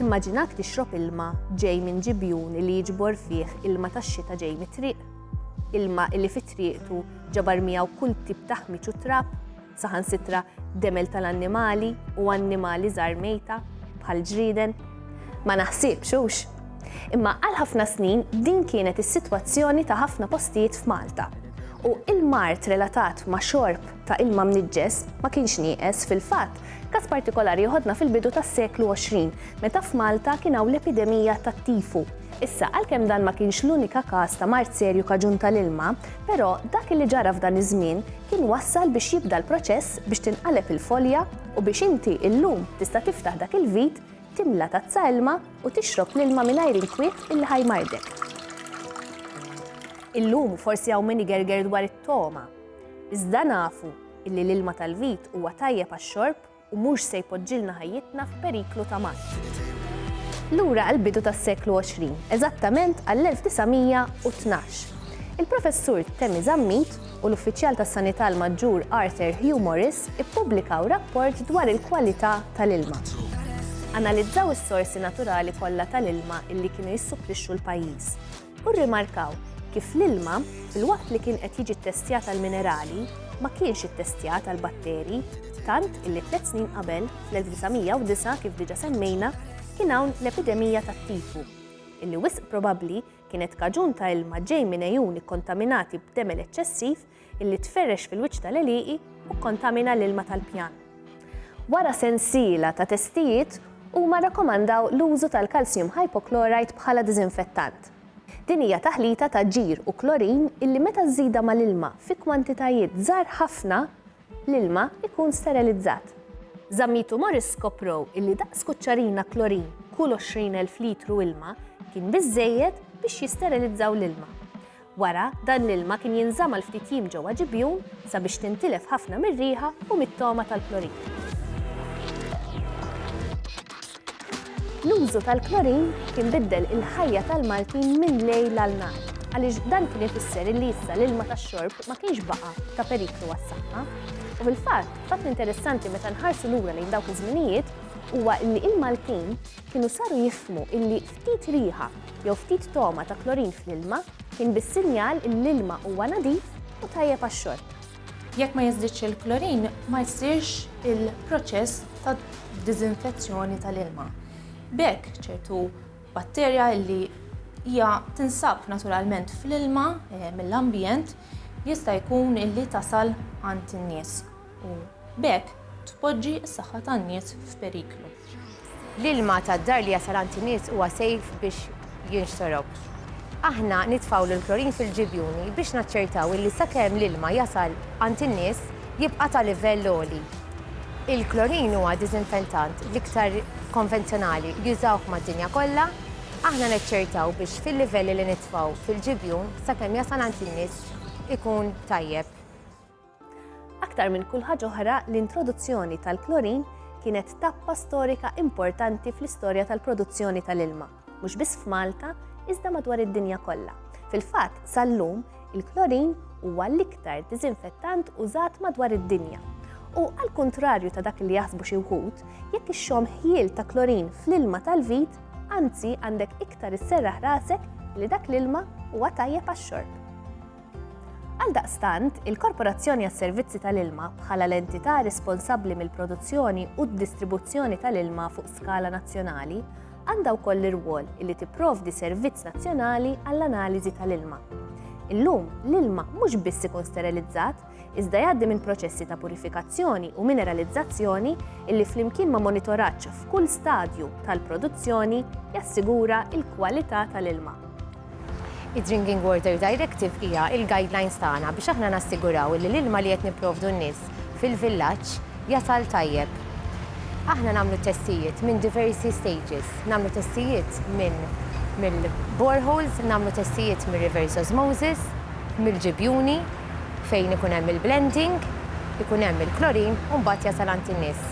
Timmaġinak tixrob ilma ġej minn ġibjun li jiġbor fih ilma tax-xita ġej mit-triq? Ilma li fi triqtu ġabar miegħu kull tip ta' ħmiġ u trab, saħansitra demel tal-annimali u annimali żgħar mejta bħal ġrieden? Ma naħsibx hux. Imma għal ħafna snin din kienet is-sitwazzjoni ta' ħafna postijiet f'Malta u il-mard relatat ma' xorb ta' ilma mniġġes ma kienx nieqes, fil-fatt, każ partikolari joħodna fil-bidu tas-seklu 20, meta f'Malta kien hawn l-epidemija tat-tifu. Issa, għalkemm dan ma kienx l-unika każ ta' mard serju kaġun tal-ilma, però dak li ġara f'dan iż-żmien kien wassal biex jibda l-proċess biex tinqaleb il-folja u biex inti illum tista' tiftaħ dak il-vit, timla tazza ilma u tixrob l-ilma mingħajr inkwiet illi ħa jmardek. Illum forsi hawn min igerger dwar it-togħma. Iżda nafu illi l-ilma tal-vit huwa tajjeb għax-xorb u mhux se jpoġġilna ħajjitna f'periklu ta' mass. Lura għall-bidu tas-seklu 20, eżattament għall-1912, il-Professur Temi Zammit u l-Uffiċjal tas-Sanità l-Maġġur Arthur Hugh Morris ippubblikaw rapport dwar il-kwalità tal-ilma. Analizzaw is-sorsi naturali kollha tal-ilma illi kienu jissupplixxu l-pajjiż. u rrimarkaw kif l-ilma, filwaqt li kien qed jiġi ttestjat għall-minerali, ma kienx ittestjat għall-batteri, tant illi tliet snin qabel, fl-1909 kif diġà semmejna, kien hawn l-epidemija tat-tifu, illi wisq probabbli kienet kaġun ta' ilma ġej minn għejun ikkontaminati b'demel eċċessiv illi tferrex fil-wiċċ tal-għelieqi u kkontamina l-ilma tal-pjan. Wara sensiela ta' testijiet, huma rrakkomandaw l-użu tal-calcium hypochlorite bħala diżinfettant. Din hija taħlita ta' ġir u klorin illi meta żżidha mal-ilma fi kwantitajiet żgħar ħafna, l-ilma jkun sterilizzat. Zammit u Morris skoprow illi daqs kuċċarina klorin kull 20,000 litru ilma kien biżżejjed biex jisterilizzaw l-ilma. Wara, dan l-ilma kien jinżamm għal ftit jiem ġewwa ġibjun sabiex tintilef ħafna mir-riħa u mit-togħma tal-klorin. L-użu tal-klorin kien biddel il-ħajja tal-Maltin minn lejl għal nhar għaliex dan kien ifisser illi issa l-ilma tax-xorb ma kienx baqa' ta' periklu għas-saħħa. U fil-fatt, fatt interessanti meta nħarsu lura lejn dawk iż-żminijiet huwa illi il-Maltin kienu saru jifhmu illi ftit riħa jew ftit togħma ta' klorin fl-ilma kien biss sinjal illi l-ilma huwa nadif u tajjeb għax-xorb. Jekk ma jiżdidx il-klorin, ma jsirx il-proċess ta' diżinfezzjoni tal-ilma. B'hekk, ċertu batterja illi hija tinsab naturalment fl-ilma mill-ambjent jista' jkun illi tasal għand in-nies. u b'hekk tpoġġi s-saħħa tan-nies f'periklu. L-ilma tad-dar li jasal għand in-nies huwa sejf biex jinxtorob. Aħna nitfgħulu l-klorin fil-ġibjuni biex naċċertaw illi sakemm l-ilma jasal għand in-nies jibqa' ta' livell għoli. Il-klorin huwa diżinfentant l-iktar konvenzjonali, jużawh mad-dinja kollha. Aħna naċċertaw biex fil-livelli li nitfgħu fil-ġibjun sakemm jasal għand in-nies ikun tajjeb. Aktar minn kull ħaġa oħra, l-introduzzjoni tal-klorin kienet tappa storika importanti fl-istorja tal-produzzjoni tal-ilma, mhux biss f'Malta, iżda madwar id-dinja kollha. Fil-fatt, sal-lum, il-klorin huwa l-iktar diżinfettant użat madwar id-dinja U għal kontrarju ta' dak li jaħsbu xi wħud, jekk ixxom ħjiel ta' klorin fl-ilma tal-vit, anzi għandek iktar isserraħ rasek li dak l-ilma huwa tajjeb għax-xorb. Għaldaqstant, il-Korporazzjoni għas-Servizzi tal-Ilma, bħala l-entità responsabbli mill-produzzjoni u d-distribuzzjoni tal-ilma fuq skala nazzjonali, għandha wkoll l-irwol li tipprovdi servizz nazzjonali għall-analiżi tal-ilma. Illum, l-ilma mhux biss ikun sterilizzat, iżda jgħaddi minn proċessi ta' purifikazzjoni u mineralizzazzjoni illi flimkien ma' monitoraġġ f'kull stadju tal-produzzjoni jassigura l-kwalità tal-ilma. Id-Drinking Water Directive hija l-guidelines tagħna biex aħna nassiguraw li l-ilma li qed nipprovdu n-nies fil-villaġġ jasal tajjeb. Aħna nagħmlu t-testijiet minn diversi stages. Nagħmlu testijiet minn mill-boreholes, nagħmlu testijiet mir-reverse osmosis, mill-ġibjuni fejn ikun hemm il-blending, ikun hemm il-klorin u mbagħad jasal għand in-nies.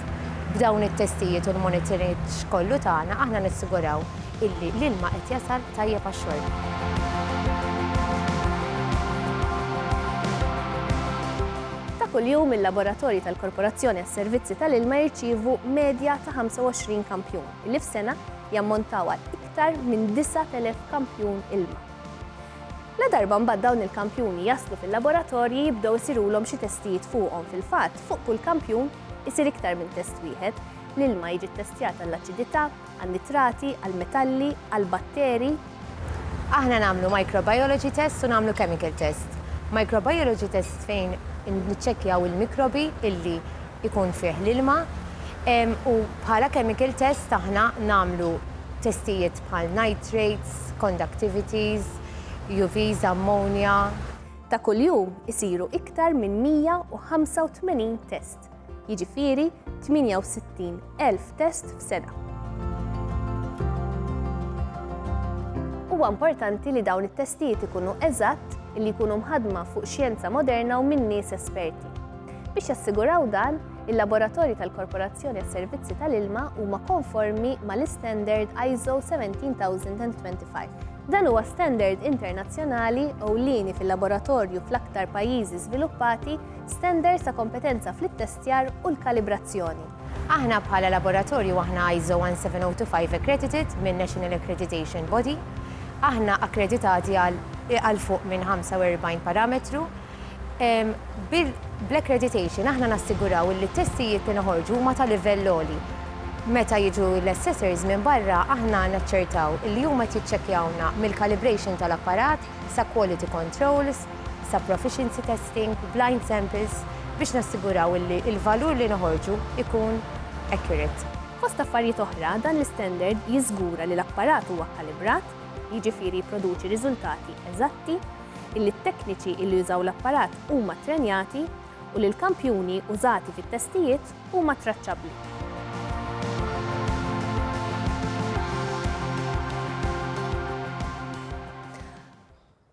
B'dawn it-testijiet u l-monitoraġġ kollu tagħna aħna nassiguraw illi l-ilma qed jasal tajjeb għax-xorb. Ta' kuljum il-laboratorji tal-Korporazzjoni għas-Servizzi tal-Ilma jirċievu medja ta' 25 kampjun, illi f'sena jammontaw għal iktar minn 9,000 kampjun ilma. Ladarba mbagħad dawn il-kampjuni jaslu fil-laboratorji jibdew isirulhom xi testijiet fuqhom, fil-fatt fuq kull kampjun isir iktar minn test wieħed, l-ilma jiġi ttestjat għall-aċidità, għan-nitrati, għall-metalli, għall-batteri. Aħna nagħmlu microbiology test u nagħmlu chemical test. Microbiology test fejn niċċekkjaw il-mikrobi illi jkun fih l-ilma u bħala chemical test aħna nagħmlu testijiet bħal nitrates, conductivities, UVs, ammonia. Ta' kuljum isiru iktar minn 185 test. test, jiġifieri 68,000 test f'sena. Huwa importanti li dawn it-testijiet ikunu eżatt, li jkunu mħadma fuq xjenza moderna u minn nies esperti. Biex jassiguraw dan, il-laboratorji tal-Korporazzjoni għas-Servizzi tal-Ilma huma konformi mal-istandard ISO 17025. Dan huwa standard internazzjonali ewlieni fil-laboratorju fl-aktar pajjiżi żviluppati Standards ta' kompetenza fl-ittestjar u l-kalibrazzjoni. Aħna bħala laboratorju aħna ISO 17025 accredited minn National Accreditation Body. Aħna akkreditati għal għal fuq minn 45 parametru. Bl-accreditation aħna nassiguraw illi t-testijiet li noħorġu huma ta' livell għoli. Meta jiġu l-assessors minn barra aħna naċċertaw illi huma qed jiċċekkjawna mill-calibration tal-apparat sa quality controls, sa proficiency testing, blind samples, biex nassiguraw illi l-valur li noħorġu ikun accurate. Fost affarijiet oħra, dan l-istandard jiżgura li l-apparat huwa kkalibrat, jiġifieri jipproduċi riżultati eżatti, illi t-tekniċi illi jużaw l-apparat huma ttrenjati u li l-kampjuni użati fit-testijiet huma traċċabbli.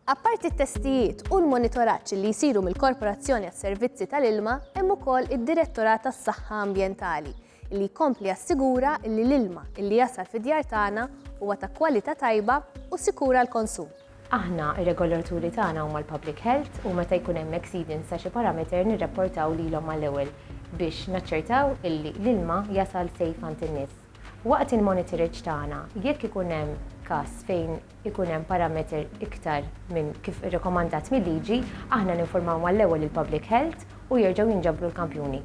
Apparti t-testijiet u l-monitoraġġ li jsiru mill-Korporazzjoni għas-Servizzi tal-Ilma, hemm ukoll id-Direttorat għas-Saħħa Ambjentali li jkompli jassigura li l-ilma li jasal fid-djar tagħna huwa ta' kwalità tajba u sikur għall-konsum. Aħna, ir-regolaturi tagħna huma l-Public Health u meta jkun hemm exceedance ta' xi parameter nirrapportaw lilhom mal-ewwel biex naċċertaw illi l-ilma jasal safe għand in-nies. Waqt il-monitoraġġ tagħna, jekk ikun hemm każ fejn ikun hemm parameter iktar minn kif irrekomandat mil-liġi, aħna ninfurmaw mal-ewwel lill-Public Health u jerġgħu jinġabru l-kampjuni.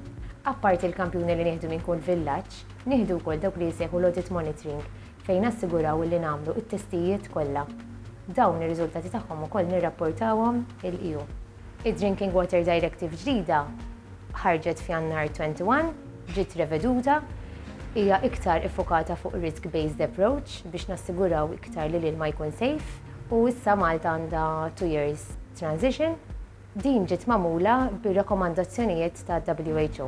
Apparti l-kampjuni li nieħdu minn kull villaġġ, nieħdu wkoll dawk li jissejħu l-audit monitoring fejn nassiguraw illi nagħmlu t-testijiet kollha. Dawn ir-riżultati tagħhom ukoll nirrapportawhom il-EU. Id-Drinking Water Directive ġdida ħarġet f'Jannar 2021, ġiet reveduta, hija iktar iffukata fuq risk-based approach biex nassiguraw iktar li l-ilma jkun safe u issa Malta għandha two years transition. Din ġiet magħmula bir-rakkomandazzjonijiet tal-WHO.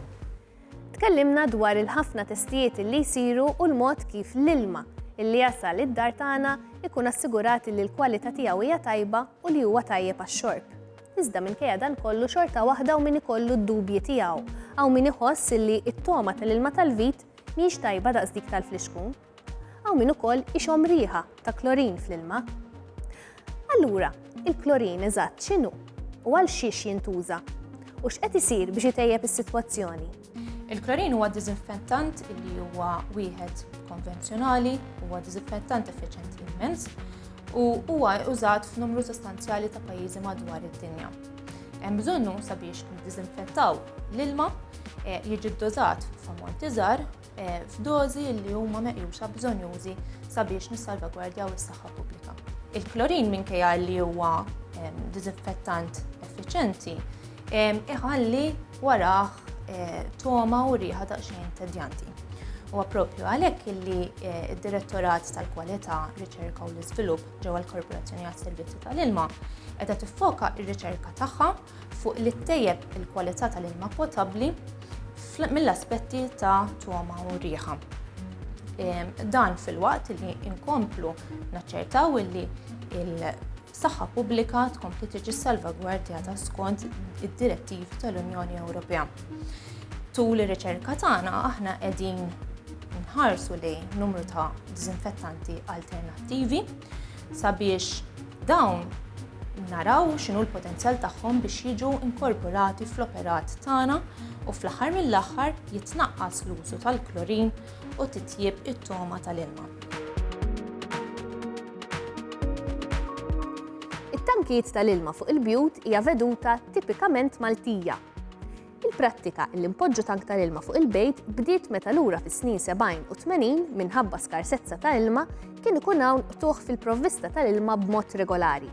Tkellimna dwar il-ħafna testijiet li jsiru u l-mod kif l-ilma illi jasal id-dar tagħna ikun assigurat li l-kwalità tiegħu hija tajba u li huwa tajjeb għax-xorb. Iżda minkejja dan kollu xorta waħda u min ikollu d-dubji tiegħu. Hawn min iħoss li t-togħma tal-ilma tal-vit mhijiex tajba daqs dik tal-flixkun. Hawn min ukoll ixomm riħa ta' klorin fl-ilma. Allura, il-klorin eżatt x'inhu u għal xiex jintuża u x'qed isir biex itejjeb is-sitwazzjoni? Il-klorin huwa diżinfettant li huwa wieħed konvenzjonali, huwa diżinfettant effiċenti immens u huwa użat f'numru sostanzjali ta' pajjiżi madwar id-dinja. Hemm bżonnu sabiex niddiżinfettaw l-ilma eh, jiġi ddożat f'ammonti żgħar eh, f'dożi li huma meqjusa bżonjużi sabiex nissalvagwardjaw is-saħħa pubblika. Il-klorin minkejja li huwa ehm, diżinfettant effiċenti, ehm, iħalli warah eh, toma u riħa daqsxejn tedjanti. U għapropju għalek illi eh, id-Direttorat tal-Kwalità, Riċerka u l-Iżvilupp ġewwa l-Korporazzjoni għas-Servizzi tal-Ilma qiegħda tiffoka r-riċerka tagħha fuq li ttejjeb il-kwalità tal-ilma potabbli mill-aspetti ta' togħma u riħa. Ehm, dan filwaqt li inkomplu naċċertaw li il-saħħa pubblika tkompli tiġi salvagwardjata skont id-direttivi tal-Unjoni Ewropea. Tul ir-riċerka tagħna aħna qegħdin nħarsu li numru ta' diżinfettanti alternattivi sabiex dawn naraw x'inhu l-potenzjal tagħhom biex jiġu inkorporati fl-operat tagħna u fl-aħħar mill-aħħar jitnaqqas l-użu tal-klorin u titjieb it-togħma tal-ilma. It-tankijiet tal-ilma fuq il-bjut hija veduta tipikament Maltija. Il-prattika li npoġġu tank tal-ilma fuq il-bejt bdiet meta lura fis-snin 70 u 80 minħabba skarsezza ta' ilma kien ikun hawn qtugħ fil-provvista tal-ilma b'mod regolari.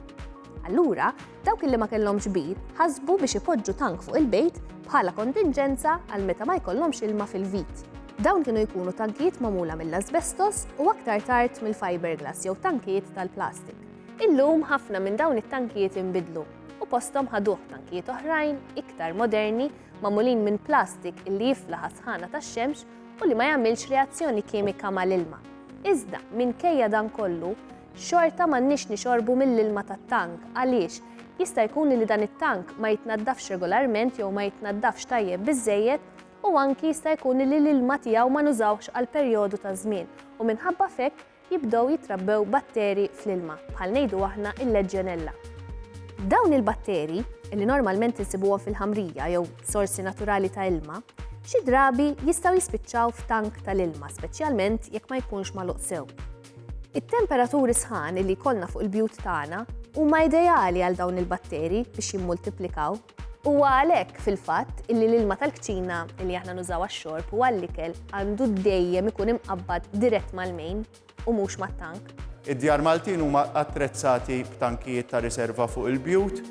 Allura, dawk li ma kellhomx bir ħasbu biex ipoġġu tank fuq il-bejt bħala kontinġenza għal meta ma jkollhomx ilma fil-vit. Dawn kienu jkunu tankijiet magħmula mill-asbestos u aktar tard mill-fiberglass jew tankijiet tal-plastik. Illum ħafna minn dawn it-tankijiet inbidlu u posthom ħaduh tankijiet oħrajn iktar moderni magħmulin minn plastik illi jiflaħ għas-sħana tax-xemx u li ma jagħmilx reazzjoni kimika mal-ilma. Iżda, minkejja dan kollu, xorta m'għandniex nixorbu mill-ilma tat-tank għaliex jista' jkun li dan it-tank ma jitnaddafx regolarment jew ma jitnaddafx tajjeb biżżejjed u anki jista' jkun li l-ilma tiegħu ma nużawhx għal perjodu ta' żmien u minħabba f'hekk jibdew jitrabbew batteri fl-ilma, bħal ngħidu aħna il-leġġjonella. Dawn il-batteri, li normalment insibuhom fil-ħamrija jew sorsi naturali ta' ilma, xi drabi jistgħu jispiċċaw f'tank tal-ilma, speċjalment jekk ma jkunx magħluq sew. It-temperaturi sħan li jkollna fuq il-bjut tagħna huma ideali għal dawn il-batteri biex jimmultiplikaw. Huwa għalhekk fil-fatt illi l-ilma tal-kċina li aħna nużaw għax-xorb u għall-ikel għandu dejjem ikun imqabbad dirett mal-main u mhux mat-tank. Id-djar Maltin huma attrezzati b'tankijiet ta' riserva fuq il-bjut.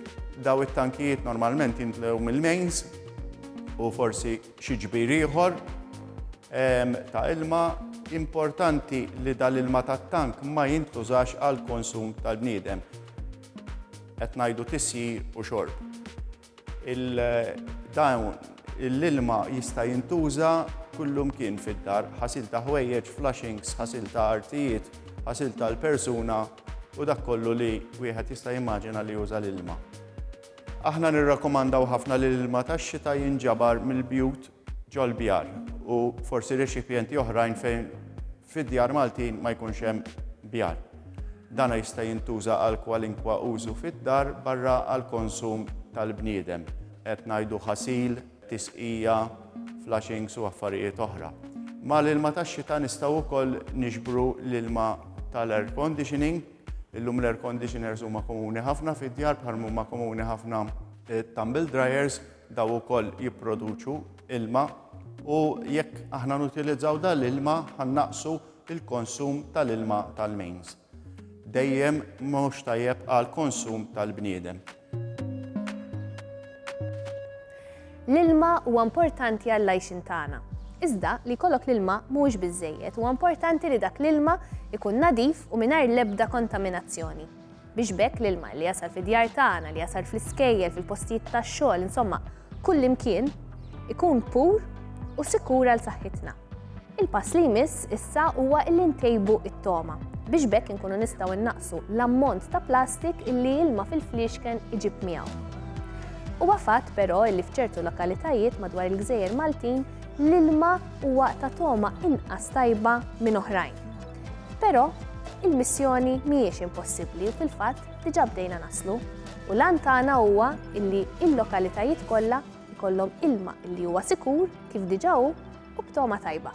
Daw it-tankijiet normalment jintlew mill-mains u forsi xi ġbir ieħor ehm, ta' ilma importanti li dal-ilma tat-tank ma jintużax għal konsum tal-bniedem. Qed ngħidu tisjir u xorb. Il-dawn l-ilma jista' jintuża kullumkien fid-dar, ħasil ta' ħwejjeġ, flushings, ħasil ta' artijiet, ħasil tal-persuna u dak kollu li wieħed jista' jimmaġina li juża l-ilma. Aħna nirrakkomandaw ħafna li l-ilma tax-xita jinġabar mill-bjut ġol-bjar u forsi rexipjenti oħrajn fejn fid-djar Maltin ma jkunx hemm bjar. Dan jista' jintuża għal kwalinkwa użu fid-dar barra għall-konsum tal-bniedem, qed ngħidu ħasil, tisqija, flushings u affarijiet oħra. Mal-ilma tax-xita nistgħu wkoll niġbru l-ilma tal-air conditioning. Illum l-air conditioners huma komuni ħafna fid-djar bħalma huma komuni ħafna t-tumble dryers Dawn ukoll jipproduċu ilma u jekk aħna nutilizzaw dan l-ilma ħa nnaqqsu l-konsum tal-ilma tal-mains. Dejjem mhux tajjeb għall-konsum tal-bniedem. L-ilma huwa importanti għall-għajxien tagħna. Iżda li jkollok l-ilma mhuwiex biżżejjed, huwa importanti li dak l-ilma ikun nadif u mingħajr l-ebda kontaminazzjoni. Biex b'hekk l-ilma li jasal fid-djar tagħna, li jasal fl-iskejjel, fil-postijiet tax-xogħol, insomma, kullimkien, ikun pur u sikur għal saħħitna. Il-pass li jmiss issa huwa illi ntejbu it-toma biex bekk inkunu nistgħu innaqsu l-ammont ta' plastik illi ilma fil-fliexken iġib miegħu. Huwa fatt però illi f'ċertu lokalitajiet madwar il-gżejjer Maltin l-ilma huwa ta' toma inqas tajba minn oħrajn. Però, il-missjoni mhijiex impossibbli u fil-fatt diġà bdejna naslu u l-għan tagħna huwa illi il-lokalitajiet kollha jkollhom ilma illi huwa sikur kif diġà hu u b'togħma tajba.